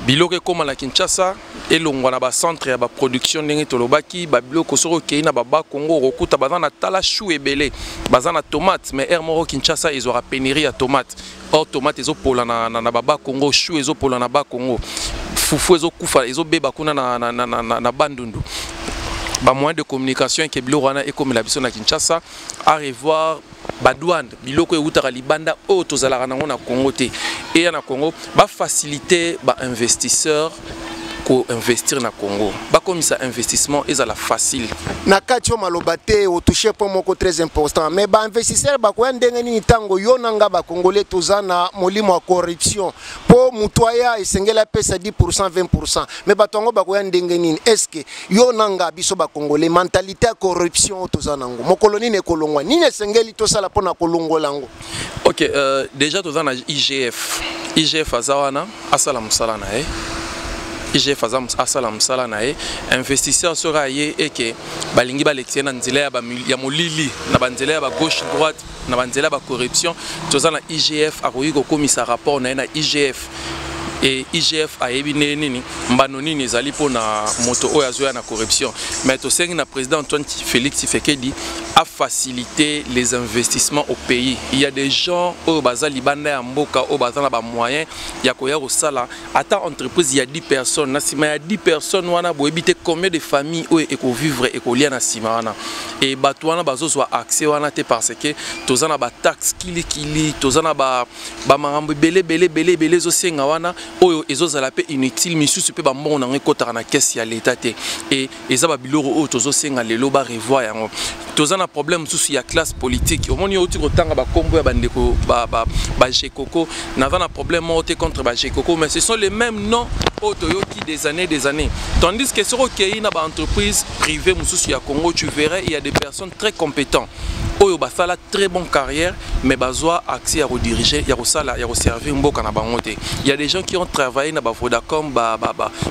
biloko ekóma na kinshasa elongwa na bacentre ya baproduction ndenge tolobaki babiloko soki okei na baba congo okokuta baza na tala chou ebele baza na tomate mais aire moko kinshasa ezwaka penerie ya tomate or tomate ezopola na, na, na baba congo chou ezopola na ba congo fufu ezokufa ezobeba kuna na, na, na, na, na, na bandundu bamoyen de communication eke biloko wana ekomela biso na kinshasa a revoir badouane biloko eutaka libanda oyo tozalaka nango na congo te eya na congo bafacilite bainvestisseur ko investir na Congo bakomisa investissement ezala facile na kati yo maloba te otouche point moko très important mais bainvestisseur bakoya ndenge nini ntango yo na nga bacongolais toza na molimo ya corruption mpo moto aya esengeli apesa 10 20 pourcent mais bato yango bakoya ndenge nini est ce que yo na nga biso bacongolais mentalité ya corruption oyo toza nango mokolo nini ekolongwa nini esengeli tosala mpo na kolongola yango ok euh, déjà toza na igf igf aza wana asala mosala na ye igf aza asala mosala na ye investisseur soki aye eke balingi balekisa ye na nzela ya, ya molili na banzela ya bagauche droite na banzela ya bacorruption toza na igf akoki kokomisa rapport na ye na igf et IGF ayebi ndenge nini mbano nini ezali mpo na moto oyo azoya na corruption mais tosengi na président Antoine Félix Tshisekedi a faciliter les investissements au pays il y a des gens oyo baza libanda ya mboka oyo baza na ba moyens ya koya kosala ata entreprise ya 10 personnes na sima ya 10 personnes wana boyebi te combien de familles oyo ekovivre ekolia na sima wana et bato wana bazozwa accès wana te parce que toza na ba taxe kilikili toza na ba ba makambo ebele ebele ebele ebele ezosenga wana oyo ezozala mpe inutile misusu mpe bambongo na yango ekotaka na kesi ya leta te e eza babiloko oyo tozosenga lelo barevoir yango toza na problème mosusu ya classe politique omoni outi kotanga bakombo ya bandeko bagekoko naza na problème moko te contre bagekoko mais ce sont les mêmes noms oyo toyoki des années des années tandis que soki okei na baentreprise privée mosusu ya congo tu verrais il y a des personnes très compétentes oyo basala très bon carrière mais bazwa accès ya kodirige ya kosala ya koservir mboka na bango te ya des gens qui ont travaillé na bavodacom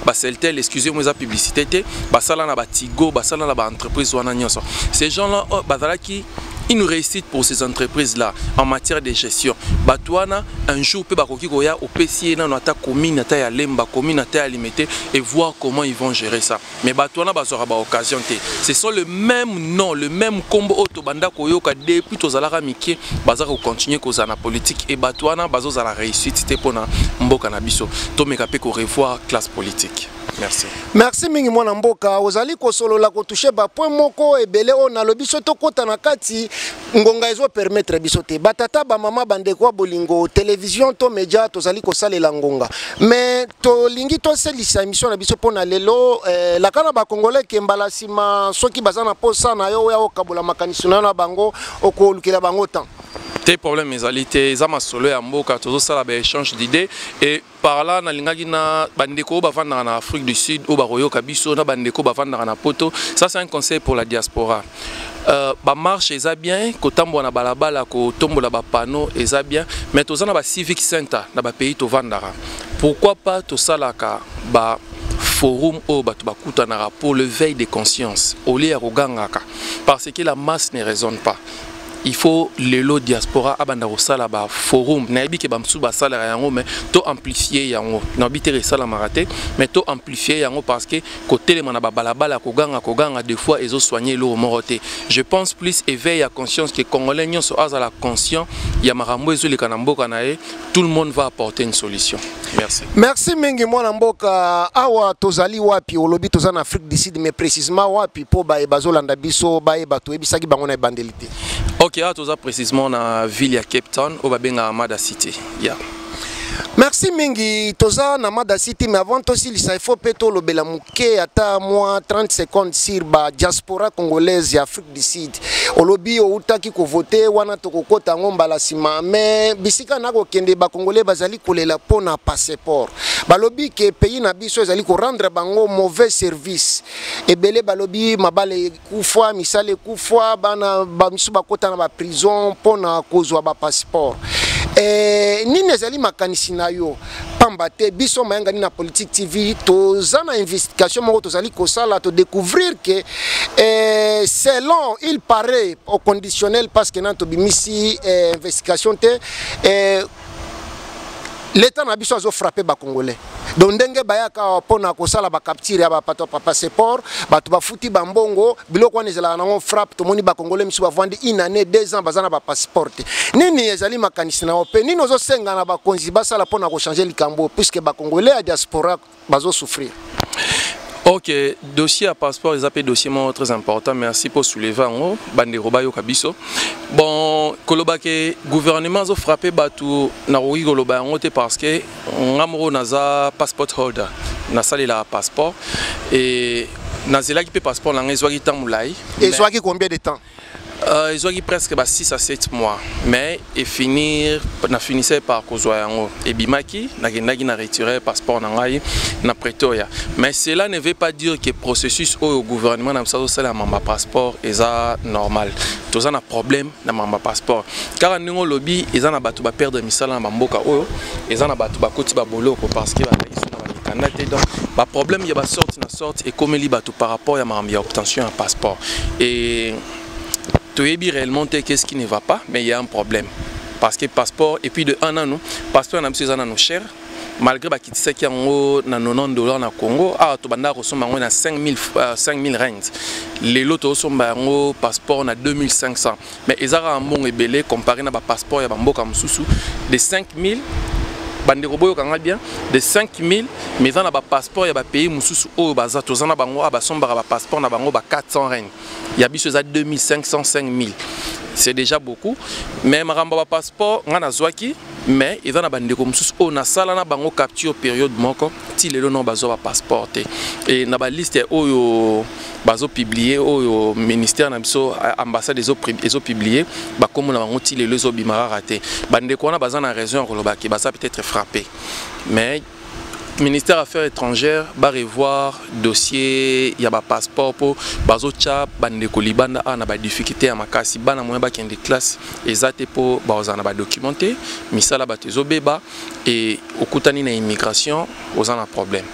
baceltel excuse moi eza publicité te basala na batigo basala na baentreprise wana nyonso ces gens là oh, bazalaki une réussite pour ces entreprises là en matière de gestion bato wana un jour mpe bakoki koya opesi ye nano ata commune ata ya lemba commune ata ya limete et voir comment ils vont gérer ça mais bato wana bazwaka baoccasion te ce sont le même nom le même nkombo oyo tobanda koyoka depuis tozalaka mike baza kocontinue kozala na politique e bato wana bazozala réussite te mpo na mboka na biso tomeka mpe korevoir classe politique merci merci mingi mwana mboka ozali kosolola kotouche bapoint moko ebele oyo nalobi so tokɔta na kati ngonga ezo permettre biso te batata bamama bandeko ya bolingo televizio to media tozali kosalela ngonga me tolingi toselisa emission na biso mpona lelo eh, laka na bakongolais ke mbala nsima soki baza na mposa na yo oya okabola makanisi na yo na bango okolukela bango temps te problème ezali te eza masolo ya mboka tozosala baéchange d'idée et par là nalingaki na bandeko oyo bavandaka na afrique du sud oyo bakoyoka biso na bandeko oyo bavandaka na poto ça c'est un conseil pour la diaspora euh, bamarche eza bien kotambola na balabala kotombola bapano eza bien mais toza na bacivic center na bapays tovandaka pourquoi pas tosalaka ba forum oyo bato bakutanaka pour le veille de conscience olie ya kogangaka parce que la masse ne raisonne pas il faut lelo diaspora abanda kosala ba forum nayebi ke bamosusu basalaka yango mais to amplifie yango nayebi te esalamaka te mais to amplifie yango parce que kotelema na babalabala koganga koganga de fois ezosoigne eloko moko te je pense plus éveil ya conscience ke congolais nyonso azala conscient ya makambo ezoleka na mboka na ye tout le monde va apporter une solution. Merci. Merci mingi mwana mboka awa tozali wapi olobi toza na Afrique du Sud mais précisément wapi po baye bazolanda biso baye bato yebisaki bango na ebandeli te. OK, awa toza précisément na ville ya Cape Town oyo babengaka Mada City. Yeah. merci mingi toza na mada city mais avant tosilisa ifo mpe tolobela moke ata mwa 30 secondes sur ba diaspora congolaise ya afrique du sud olobi outaki kovote wana tokokota yango mbala nsima me bisika na kokende bakongole bazali kolela mpo na passeport balobi ke pays na biso ezali korendre bango mauvais service ebele balobi mabala ekufa misala ekufa bana bamisu bakota na baprison mpo na kozwa bapasseport e, eh, nini ezali makanisi na yo pamba te biso mayangani na politique tv toza na investigation moko tozali kosala todécouvrir ke eh, selon il paraît au conditionnel parce que nani tobimisi eh, investigation te eh, leta na biso azofrappe bacongolais donc ndenge bayaka mpo na kosala bacapture ya bapato ya passeport bato bafuti bambongo biloko wana ezalaka nango frappe tomoni bakongole misu bavandi une année deux ans baza na bapasseport te nini ezali makanisi na yo mpe nini ozosenga na bakonzi basala mpo na kochange likambo puisque bakongole ya diaspora bazosouffrir ok dossier ya passeport eza mpe dossier moko très important merci mpo souleve yango bandeko bayoka biso bon koloba ke gouvernement azofrappe bato nakoki koloba yango te parce que nga moko naza passport holder nasalelaka passeport e nazelaki mpe passeport na ngai ezwaki ntango molai ezwaki combien de temps Euh, ezwaki presque ba 6 à 7 mois mais efinir na finissait par kozwa yango ebimaki nakendaki na retire passeport na ngai na pretoria mais cela ne veut pas dire que processus oyo gouvernement na biso azosalelama bapasseport eza normal toza na problème na mamba passeport kaka ndenge olobi eza na bato baperdre misala na bamboka oyo eza na bato bakoti baboloko parce que bakaiso na bamikanda te donc baproblème ya basorte na sorte ekomeli bato par rapport ya makambo ya obtention ya passeport e toyebi réellement te qu'est ce qui ne va pas mais il y a un problème parce que passeport et puis de un nanu passeport na biso eza nanu cher malgré bakitisaki yango na 90 dollar na congo awa tobandaka kosomba yango na 5000 euh, rings lelo tozosomba yango passeport na 2500 mais eza kaka mbongo ebele comparé na bapasseport ya bamboka mosusu de 5000 bandeko boyoka ngai bien de 5000 mais eza na bapasseport ya bapays mosusu oyo baza toza na bango awa basombaka bapasseport na bango ba 400 rings ya biso eza 2500 5000 c'est déjà beaucoup mais makambo ya bapasseport ngai nazwaki mais eza na bandeko mosusu oyo nasala na bango capture periode moko ti lelo no bazwa bapasseport te e na baliste oyo bazopublie oyo ministère na biso ambassade ezopublie bakombo na bango ti lelo ezobima kaka te bandeko wana baza na raison ya kolobaki baza peut-être frappe mais ministère affaires étrangères ba revoir dossier ya ba passeport mpo bazotya bandeko libanda awa na badifficulté ya makasi bana moyen bakende classe eza te mpo bakozala na badocument te misala bato ezobeba e okutani na immigration oza na problème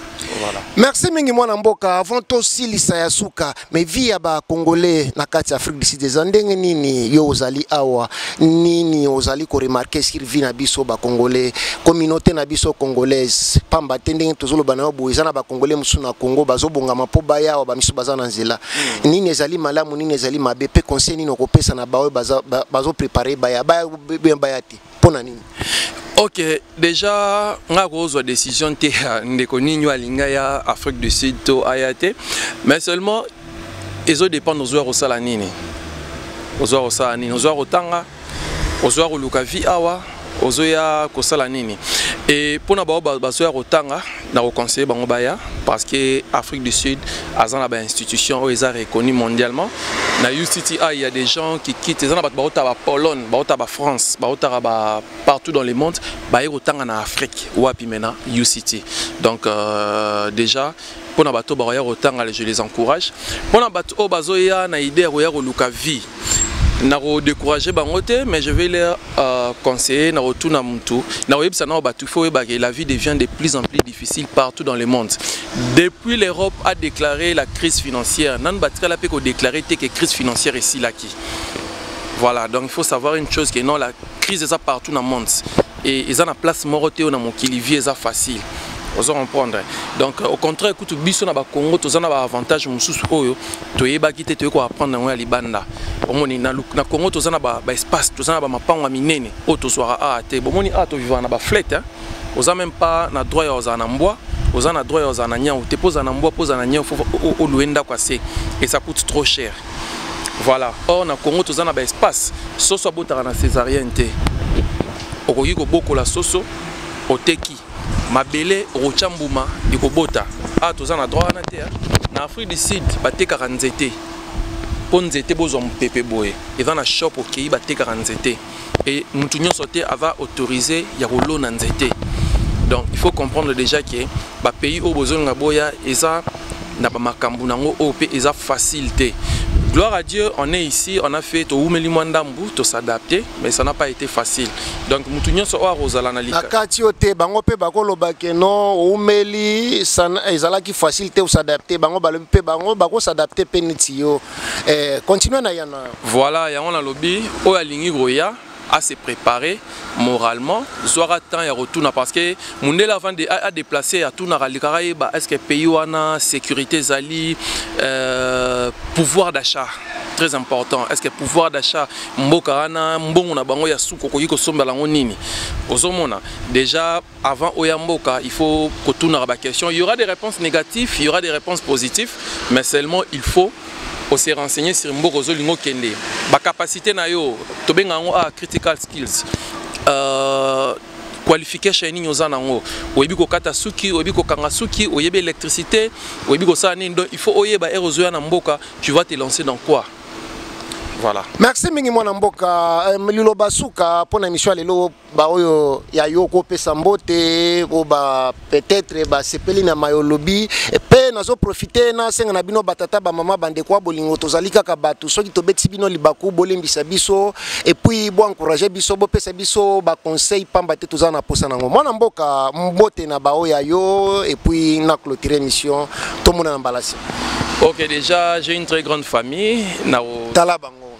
voilà. merci mingi mwana mboka avant tosilisa ya suka mais vie ya ba congolais na kati ya afrique du sud eza ndenge nini yo ozali awa nini ozali koremarke sur vie na biso ba congolais communauté na biso congolaise pamba te ndenge tozoloba na yo boye eza na ba congolais mosusu na congo bazobongama mpo baya awa bamisusu baza na nzela hmm. nini ezali malamu nini ezali mabe mpe conseil nini okopesa na baoyo bazoprepare baya baya te mpo na nini ok déjà nga kozwa décision te ya ndeko nini oyo alinga ya afrique du sud to aya te mais seulement ezo dépendre ozwa kosala nini ozwa kosala nini ozwa kotanga ozwa koluka vie awa ozoya kosala nini e mpo na bao bazoya kotanga na ko conseiller bango baya parce que Afrique du Sud aza na ba institutions oyo eza reconnu mondialement na UCTI il y a des gens qui quittent eza na bato bauta ba Pologne bauta ba France bautaka ba partout dans le monde baye kotanga na Afrique wapi mena UCT donc euh, déjà mpona bato bakoya kotanga je les encourage mpona bato oyo bazoya na idée ya koya koluka vie nako décourager bango te mais je vais leur euh, conseiller nako tuna mutu nako yebisa nao batu faut yeba que la vie devient de plus en plus difficile partout dans le monde depuis l'Europe a déclaré la crise financière nanu batikala pe ko déclarer te que crise financière esilaki voilà donc il faut savoir une chose que non la crise eza partout dans le monde Et eza na place moko te na mokili vie eza facile. ozo comprendre donc au contraire kutu biso na bakongo toza na baavantage mosusu oyo toyebaki te toyei koapprendre yango ya libanda omoni na, na congo toza na baespace ba toza na bamapango ya minene oyo tozwaka awa te bomoni awa tovivaka na baflete oza meme pas na droit ya kozala na mbwa oza na droit ya kozala na nyau te mpo ozala na mbwa mpo ozala na nyau fo olue ndako ya se esa coute trop cher voilà or na congo toza na baespace soso abotaka na césarienne te okoki kobokola soso oteki mabele okotya mbuma ekobota awa ah, toza na droit wana te na afrique du sud batekaka nzete mpo nzete bozwa mopepe boye eza na shop okei batekaka nzete et mutu nyonso te ava autorisé ya kolona nzete donc il faut comprendre déjà que ba pays oyo bozolinga boya eza na ba makambo nango oyo pe eza facile te Gloire à Dieu, on est ici, on a fait to wumeli mwa ndambu, to s'adapter, mais ça n'a pas été facile. Donc mutu nyonso oyo akozala na lika. Nakati yo te bango pe bakoloba ke non wumeli ezalaki facile te s'adapter, bango balobi pe bango bako s'adapter pe neti yo. eh, continue na yana voilà yango nalobi oyo alingi koya à se préparer moralement zwaka temps ya kotuna parce que mundele avant de adeplace atunaka alikaka yeba est ce que pays wana sécurité ezali euh, pouvoir d'achat très important est ce que pouvoir d'achat mboka wana mbongo na bango ya suka okoki kosombela yango nini ozomona déjà Avant Oya Mboka, il faut kotunaka ba questions. Il y aura des réponses négatives, il y aura des réponses positives, mais seulement il faut on s'est renseigné sur Mboka Ozolingo Kende. Ba capacité na yo, tobenga ngo ah critical skills. Euh, qualification nini oza nango oyebi kokata suki oyebi kokanga suki oyebi électricité oyebi kosala nini donc il faut oyeba ere ozoya na mboka tu vas te lancer dans quoi voilà merci mingi mwana mboka euh, liloba suka mpo na émission ya lelo baoyo ya yo kopesa mbote po ba peut-être basepeli na mayo olobi mpe nazoprofite nasenga na bino batata bamama bandeko ya bolingo tozali kaka bato soki tobetisi bino libaku bolembisa biso epuis boencourage biso bopesa biso baconseil mpamba te toza na mposa nango mwana mboka mbote na baoyo ya yo epuis na clotire émission tomonana mbalasi ok déjà j'ai une très grande famille na tala bango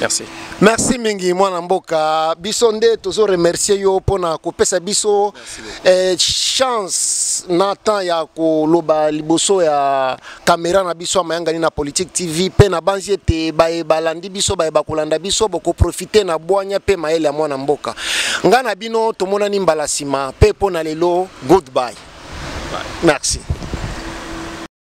Merci. Merci mingi mwana mboka biso nde tozo remercier yo pona kopesa biso eh, chance na temps ya koloba liboso ya kamera na biso ya mayangani na politique tv mpe nabanzi ete baye balandi biso baye bakolanda biso bokoprofite na bwanya mpe mayele ya mwana mboka ngai na bino tomonani mbala nsima mpe mpo na lelo goodbye merci